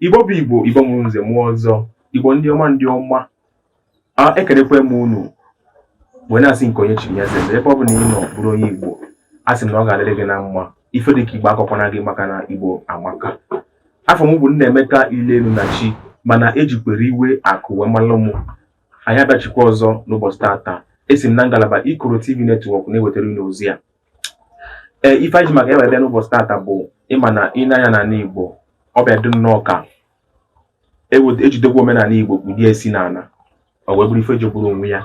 Igbo bụ Igbo, Igbo mụrụ nze mụọ ọzọ, Igbo ndị ọma ndị ọma, ekelekwa m unu wee na-asị nke onye chiri ya zere ebe ọbụna ị nọ bụrụ onye Igbo asị m na ọ ga-adịrị gị na mma ife dị ka Igbo akọkwana gị maka na Igbo amaka afa m bụ Nnaemeka Ilelu na chi mana ejikwere iwe akụ wee malụ m anyị abịachikwa ọzọ n'ụbọchị tata esi m na ngalaba Ikoro TV Network na-ewetara unu ozi a ee ife anyị ji maka ya wee bịa n'ụbọchị tata bụ ị ma na i nee anya n'ala Igbo ọ bịa dị nnọọ ka ejidekwa omenala Igbo kpudie isi n'ala ọ wee bụrụ ife jọgburu onwe ya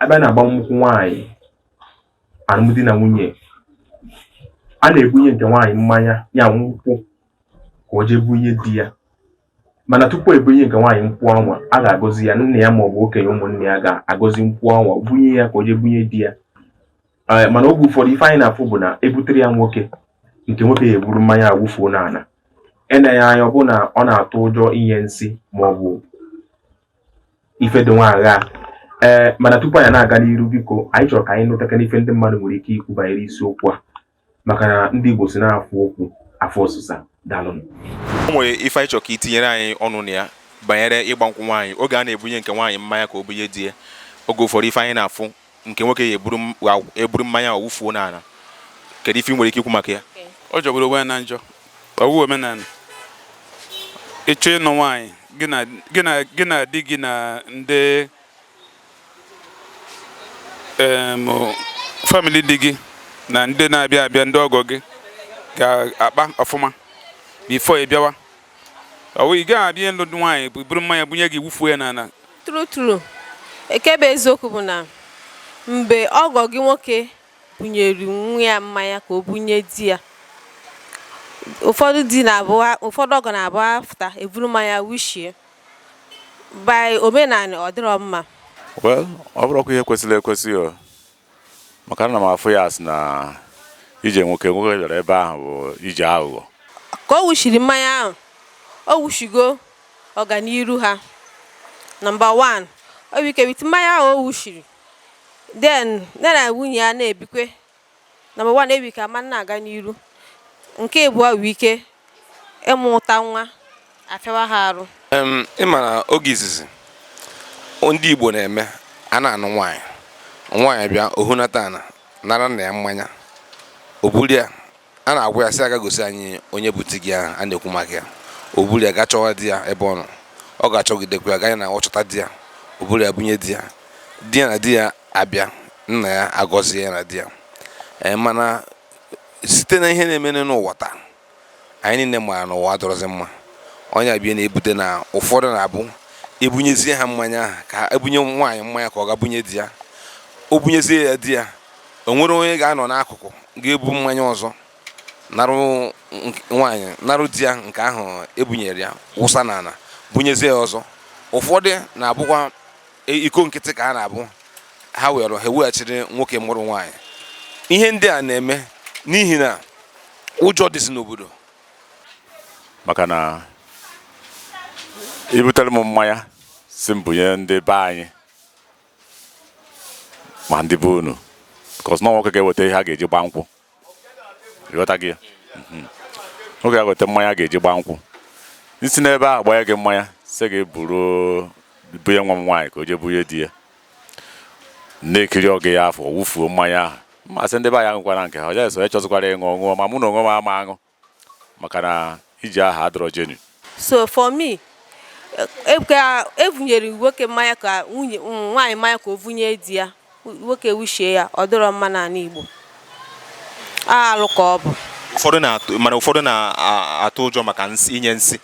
abịa na agbamnkwụ nwaanyị alụmdi na nwunye a na-ebunye nke nwaanyị mmanya ya nkwụ ka o jee bunye di ya mana tupu ebunye nke nwaanyị nkwụ anwa a ga-agọzi ya nna ya maọbụ okenye ụmụnna ya ga-agọzi nkwụ anwa bunye ya ka o jee bunye di ya eh, mana oge ụfọdụ ife anyị na-afụ bụ na ebutere ya nwoke nke nwoke ya eburu mmanya awụfuo n'ala eneghị anya ọ bụ na ọ na-atụ ụjọ inye nsị ma ọ bụ ife dị nwa agha ee eh, mana tupu anyị na-aga n'iru biko anyị chọrọ ka anyị nụtakana ife ndị mmadụ nwere ike ikwu banyere isiokwu a maka na ndị Igbo sị na afụ okwu afụ ọsịsa daalụnụ o nwere ife anyị chọrọ ka itinyere anyị ọnụ na ya banyere ịgba nkwụ nwaanyị oge a na-ebunye nke nwaanyị mmanya ka o bunye di ya oge ụfọdụ ife anyị na-afụ nke nwoke ya eburu m- wa- eburu mmanya awụfuo n'ala kedu ife ị nwere ike ikwu maka ya ọ jọgburu onwe ya na njọ ọ wụ omenala ị chọọ ịnụ nwaanyị gị na gị na gị na di gị na ndị family di gị na ndị na-abịa abịa ndị ọgọ gị ga-akpa ọfụma before ị bịawa ọ ị gaghị abịa ịlụ nwaanyị eburu mmanya bunye gị i wufuo ya n'ala true true nke bụ eziokwu bụ na mgbe ọgọ gị nwoke bunyere nwa ya mmanya ka o bunye di ya ụfọdụ di na-abụ ụfọdụ ọgọ na-abụ after eburu mmanya wushie by omenala ọ dịrọ mma well ọ bụrọkwa ihe kwesịrị ekwesị o maka na m afụ ya asị na ije nwoke nwoke bịara ebe ahụ bụ ije aghụghọ ka o wushiri mmanya ahụ o wushigo ọganiru ha number 1 o nwere ike with mmanya ahụ o wushiri then ya na nwunye ya na-ebikwe Number one, enwere ike ama na-aga n'iru. Nke abụọ enwere ike ịmụta nwa afịawa ha arụ. Em, ị ma na oge izizi ndị Igbo na-eme a na-anụ nwaanyị nwaanyị bịa o hunata ana nara nna ya mmanya o buru ya a na-agwa ya sị ya gaa gosi anyị onye bụ di gị ahụ a na-ekwu maka ya o buru ya gaa chọwa di ya ebe ọ nọ ọ ga-achọgidekwa ya ganye na ọ chọta di ya o buru ya bunye di ya di ya na di ya abịa nna ya agọzie ya na di ya ee mana site na ihe na-eme n'ụwa taa anyị niile maara na ụwa adịrọzi mma ọ ya bịa na-ebute na ụfọdụ na-abụ ebunyezie ha mmanya ahụ ka ebunye nwaanyị mmanya ka ọ gaa bunye di ya o bunyezie ya di ya o nwere onye ga-anọ n'akụkụ ga-ebu mmanya ọzọ narụ nwaanyị narụ di ya nke ahụ ebunyere ya wụsa n'ala bunyezie ya ọzọ ụfọdụ na-abụkwa e, iko nkịtị ka ha na-abụ ha were ha eweghachiri nwoke mụrụ nwaanyị ihe ndị a na-eme n'ihi na ụjọ dịzi n'obodo maka na i butere m mmanya sị m bunye ndị be anyị ma ndị be unu because na nwoke ga-eweta ihe a ga-eji gba nkwụ ị ghọta gị mhm. nwoke ga-eweta mmanya a ga-eji gba nkwụ e si n'ebe ahụ gbanye gị mmanya sị gị buru bunye nwa m nwaanyị ka o jee bunye di ya na-ekiri oge ya afọ wufuo mmanya ahụ m asị ndị be anyị aṅụkwana nke ha onye sọ ya chọzikwara ịṅụ ọ ṅụọ ma mụ na onwe m ama aṅụ maka na ije ahụ adịrọ genuine so for me e, ka evunyere nwoke mmanya ka nwunye mm, nwaanyị mmanya ka o vunye di ya nwoke wushie ya ọ dịrọ mma n'ala Igbo alụ ka ọ bụ ụfọdụ na-atụ mana ụfọdụ na-atụ ụjọ maka nsị inye nsị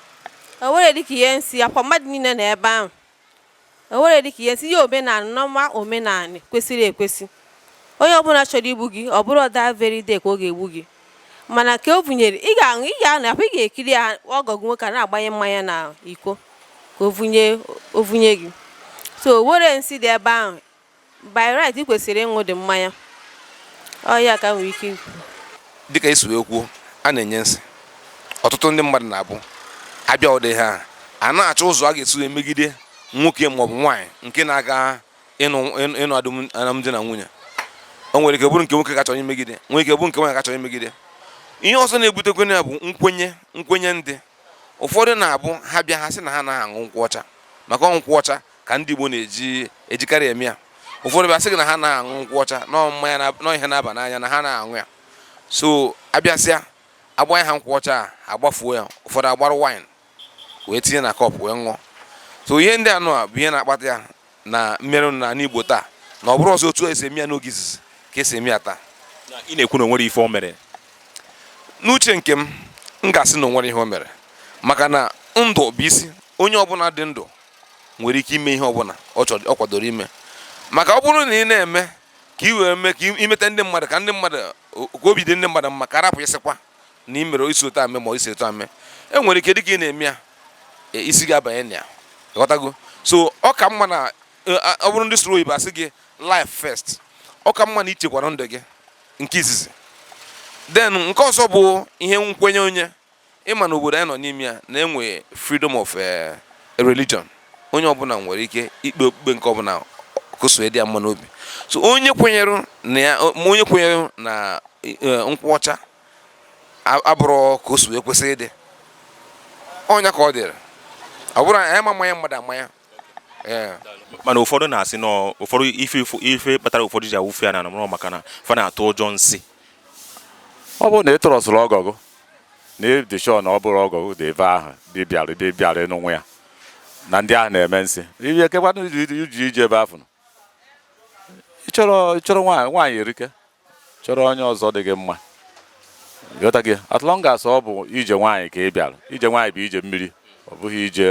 o nwere dịka inye nsị ọkwa mmadụ niile nọ ebe ahụ o nwere dịka a sị ihe omenala normal omenala kwesịrị ekwesị onye ọbụla chọrọ igbu gị ọ bụrọ that very day ka ọ ga-egbu gị mana ka o bunyere ị ga-aṅụ ị ga-anọkwa ị ga-ekiri ya ọgọ gị nwoke na-agbanye mmanya na iko ka o vunye o vunye gị so nwerọ nsị dị ebe ahụ by right ị kwesịrị ịṅụ the mmanya ọ ya ka m nwere ike ikwu dịka esi wee kwuo a na-enye nsị ọtụtụ ndị mmadụ na-abụ abịa ụdị ihe a, a na-achọ ụzọ a ga-esi wee megide nwoke maọbụ nwaanyị nke na-aga ịnụ ịnụ- ịnụ adụm- alụmdi na nwunye o nwere ike bụrụ nke nwoke ga-achọ imegide nwere ike bụrụ nke nwaanyị ga-achọ imegide ihe ọzọ na-ebutekwa ya bụ nkwenye nkwenye ndị ụfọdụ na-abụ ha bịa ha sị na ha anaghị aṅụ nkwụ ọcha maka ọ nkwụ ọcha ka ndị Igbo na-eji ejikarị eme ya ụfọdụ bịa sị gị na ha ana aṅụ nkwụ ọcha na ọ mmanya na ọ ihe na-aba n'anya na ha ana aṅụ ya so a bịasịa a gbanye ha nkwụ ọcha ha agbafuo ya ụfọdụ agbarụ wine wee tinye na cup wee ṅụọ so ihe ndị anụ a bụ ihe na-akpata ya na mere na n'Igbo taa na ọ bụrọzi otu esi eme ya n'oge izizi ka esi eme ya taa ị na-ekwu na o nwere ife o mere n'uche nke m m ga-asị na o nwere ihe o mere maka na ndụ bụ isi onye ọbụla dị ndụ nwere ike ime ihe ọbụla ọ kwadoro ime maka ọ bụrụ na ị na-eme ka ị wee mee ka imeta ndị mmadụ ka ndị mmadụ ka obi dị ndị mmadụ mma ka arapụ ịsịkwa na ị mere i si otu a mee ma i si otu a mee e nwere ike dịka ị na-eme ya e, isi gị abanye na ya ghọtago so ọ ka mma na e, ọ bụrụ ndị sụrụ oyibo asị gị life first ọ ka mma na ichekwara ndụ gị nke izizi then nke ọzọ bụ ihe nkwenye onye Ị ma na obodo anyị nọ n'ime ya na enwe freedom of eh, religion onye ọbụla nwere ike ikpe okpukpe nke ọbụla kasị dị ya mma n'obi so onye kwenyere na ya ma onye kwenyere na eh, nkwụ ọcha a- abụrụ ka o si wee kwesị ịdị ọ nya ka ọ dịrị ọ bụrụ anyị ama mmanya mmadụ amanya mana ụfọdụ na-asị na ụfọdụ ife ife kpatara ụfọdụ ji awụfu ya n'ana bụrụ maka na fa na-atụ ụjọ nsị ọ bụrụ na ị trustụrọ ọgọ gị na ị dị sure na ọ bụrụ ọgọ gị dị ebe ahụ bịbịara bịbịara n'onwe ya na ndị ahụ na-eme nsị ihe kekwanụ i ji eje ebe afụ ị chọrọ ị chọrọ nwaanyị nwaanyị erika chọrọ onye ọzọ dị gị mma ghọtago as long as ọ bụ ije nwaanyị ka ị bịara ije nwaanyị bụ ije mmiri ọ bụghị ije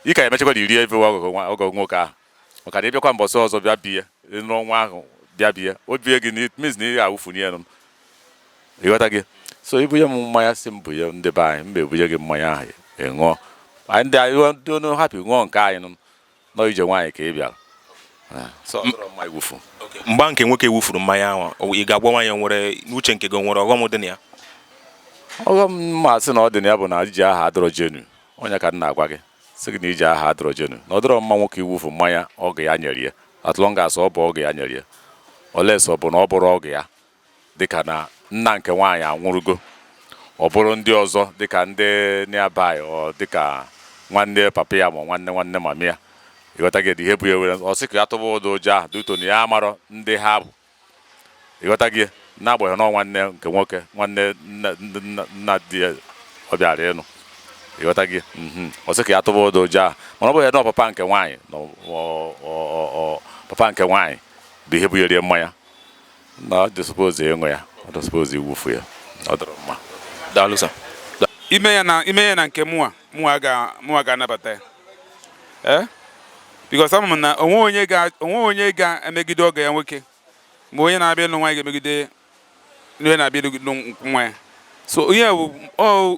ị ga-emechakwa na iri ebe ọgọ nwoke ahụ maka na ị bịakwa mbọsị ọzọ bịa be ya n'ọnwa ahụ bịa be ya o bie gị means na ị ga-awụfuni ya ị ghọtago so e bunye m mmanya sị m bunye ndị be anyị mba ebunye gị mmanya ahụ ị ṅụọ ndị anyị ndị onu hapụ ṅụọ nke anyị nụ nọ ije nwaanyị ka ị bịara Ah, so ọ dịrọ mma iwufu mgbe nke nwoke wufuru mmanya ahụ o- ị ga-agwanwu anyị o nwere n'uche nke gị o nwere ọghọm dị na ya ọghọm m ga-asị na ọ dị na ya bụ na ije ahụ adịrọ genuine ọ nya ka m na-agwa gị sị gị na ije ahụ adịrọ genuine na ọ dịrọ mma nwoke iwufu mmanya ọgọ ya nyere ya as long as ọ bụ ọgọ ya nyere ya unless ọ bụ na ọ bụrọ ọgọ ya dịka na nna nke nwaanyị anwụrụgo ọ bụrụ ndị ọzọ dịka ndị nearby ọ dịka nwanne papa ya ma nwanne nwanne mama ya ị ghọtago ihe bụ ya were ọ sị ka ya tụba ụdị ụjọ ahụ due to na ya amarọ ndị ha bụ ị ghọtago na-agbanyeghị na ọ nwanne nke nwoke nwanne nna di ya ọ bịara ịnụ ị ghọtago mhm. ọ sị ka ya tụba ụdị ụjọ ahụ mana ọ bụghị na papa nke nwaanyị papa nke nwaanyị bụ ihe bunyere ya mmanya na ọ dị supposed ịṅụ ya ọ dịghị supposed iwufu ya ọ dịrọ mma daalụ sir ime ya na ime ya na nke mụwa mụwa ga mụwa ga-anabata ya ee because ama m na o nweghị onye ga o nweghị onye ga-emegide ọgọ ya nwoke ma onye na-abịa ịlụ nwaanyị ga-emegide onye na-abịa ịlụ nwa ya so ihe bụ ọ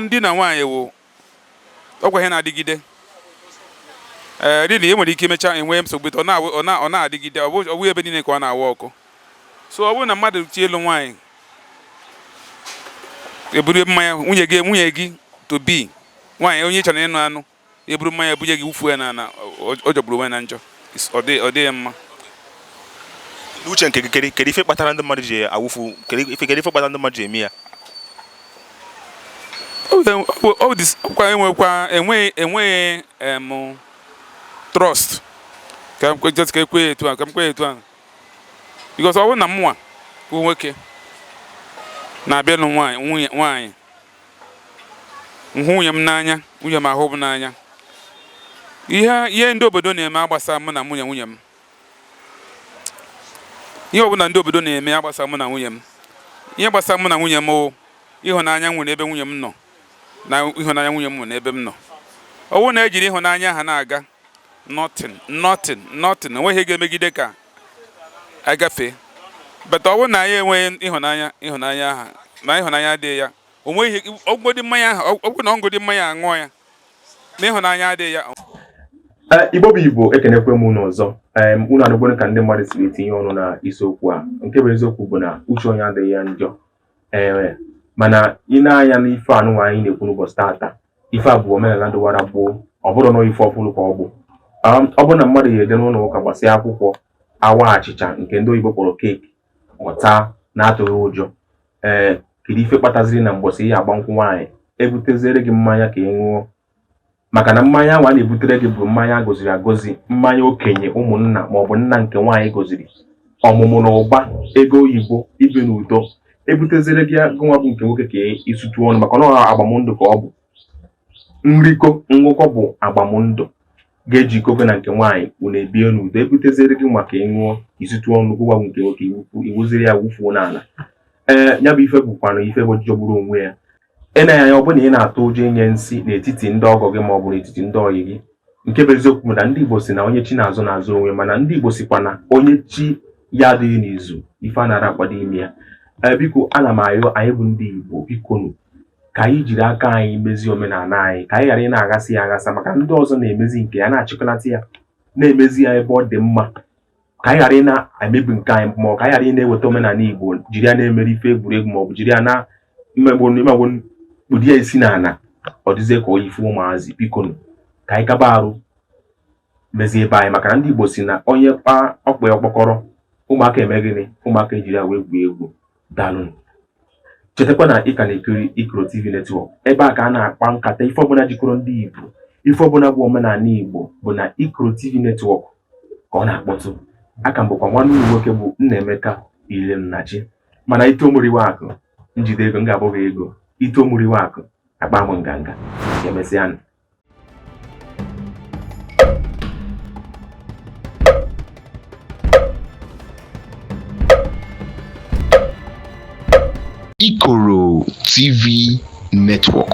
di na nwaanyị wụ ọkwa ihe na-adịgide ee really e nwere ike imecha enwe nsogbu ọ na-adịgide ọ bụghị ebe niile ka ọ na-aworkụ so ọ bụrụ na mmadụ jee ịlụ nwaanyị eburu mmanya nwunye gị nwunye gị to be nwaanyị onye ị chọrọ ịnụ anụ eburu mmanya bunye gị wụfuo ya n'ala ọ jọgburu onwe na njọ ọ dịghị mma n'uche nke gị kedu ife kpatara ndị mmadụ ji awụfu kedu ife kpatara ndị mmadụ ji eme ya ọkwa enwekwa enweghị enweghị em trust ka e kwuo etu a ka m kwuo etu a because ọ bụrụ na mụnwa bụ nwoke na-abịa ịnụ nwaanyị m hụ nwunye m n'anya nwunye m ahụ m n'anya ihe ihe ndị obodo na-eme agbasa mụ na nwunye nwunye m ihe ọbụla ndị obodo na-eme agbasa mụ na nwunye m ihe gbasara mụ na nwunye m ịhụnanya m nwere ebe nwunye m nọ na ịhụnanya nwunye m nwe n'ebe m nọ ọ bụrụ na ejiri ịhụnanya ha na-aga nothing nothing nothing onweghị ihe ga-emegide ka agafe but ọ bụrụ na anyị enweghị ịhụnanya ịhụnanya ahụ na ịhụnanya adịghị ya onweghị ọ ṅụgodi mmanya ahụ ọ bụrụ na ọ ṅụgodi mmanya aṅụọ ya na ịhụnanya adịghị ya eh, igbo bụ igbo ekenekwa m unu ọzọ unu anụgo ka ndị mmadụ siri tinye ọnụ na isiokwu a nke bụ eziokwu bụ na uche onye adịghị ya njọ ee eh, mana ị nee anya n'ife anụnwa anyị na-ekwu n'ụbọchị taata ife a bụ omenala dịwara gboo ọ bụrọ na ife ọfụrụ ka ọ bụ um, ọ bụrụ na mmadụ ya eje n'ụlọ ụka gbasịa akwụkwọ a waa achịcha nke ndị oyibo kpọrọ cake ọ taa na-atụghị ụjọ ee kedu ife kpataziri na mgbọsị ị ya-agba nkwụ nwaanyị ebuteziere gị mmanya ka ị ṅụọ maka na mmanya ahụ a na-ebutere gị bụ mmanya a goziri agozi mmanya okenye ụmụnna maọbụ nna nke nwaanyị goziri ọmụmụ na ụba ego oyibo ibi n'udo ebutezere gị gịnwa bụ nke nwoke ka ị sụtụ ọnụ maka na ọ agbamndụ ka ọ bụ nrikọ ṅụkọ bụ agbamndụ ga-ejikọ gị na nke nwaanyị unu ebie n'udo ebutezere gịnwa ka ị ṅụọ ị sụtụ ọnụ gịnwa bụ nke nwoke i buziri ya wụfuo n'ala ee ya bụ ife bụkwanụ ife jọgburu onwe ya ị nee anya ọ bụrụ na ị na-atụ ụjọ inye nsị n'etiti ndị ọgọ gị ma ọ bụ n'etiti ndị ọyị gị nke bụ eziokwu bụ na ndị Igbo si na onye chi na-azọ na-azọ onwe mana ndị Igbo sikwa na onye chi ya adịghị n'izu ife anara akwado ime ya ee eh, biko ana m ayọ anyị bụ ndị Igbo bikonu ka anyị jiri aka anyị mezie omenala anyị ka anyị ghara ị na-aghasị ya aghasa maka ndị ọzọ na-emezi nke ya na-achịkọlata ya na-emezi ya ebe ọ dị mma ka anyị ghara ị na-emebi nke anyị ma ọ ka anyị ghara ị na-eweta omenala Igbo jiri ya na-emere ife egwuregwu maọbụ jiri ya na mmegbu imegbu kpudo ya isi n'ala ọ dịzie ka ọ ife ụmụazị bikonu ka anyị kaba arụ mezie ebe anyị maka na ndị Igbo si na onye kpọọ ọba ya ọkpọkọrọ ụmụaka eme gịnị ụmụaka ejiri ya wee gwuo egwu Daalụ. Chetakwa na ị ka na-ekiri Ikoro TV Network. Ebe a ka a na-akpa nkata ife ọbụla jikọrọ ndị Igbo, ife ọbụla bụ omenala Igbo bụ na Ikoro TV Network ka ọ na-akpọtụ. A ka m bụkwa nwanne unu nwoke bụ Nnaemeka Ilemnachi. Mana ito mụriwe akụ, njide ego m ga-abụ gị ego. Ito mụriwe akụ, akpa m nganga. Ka emesịa Ikoro TV Network.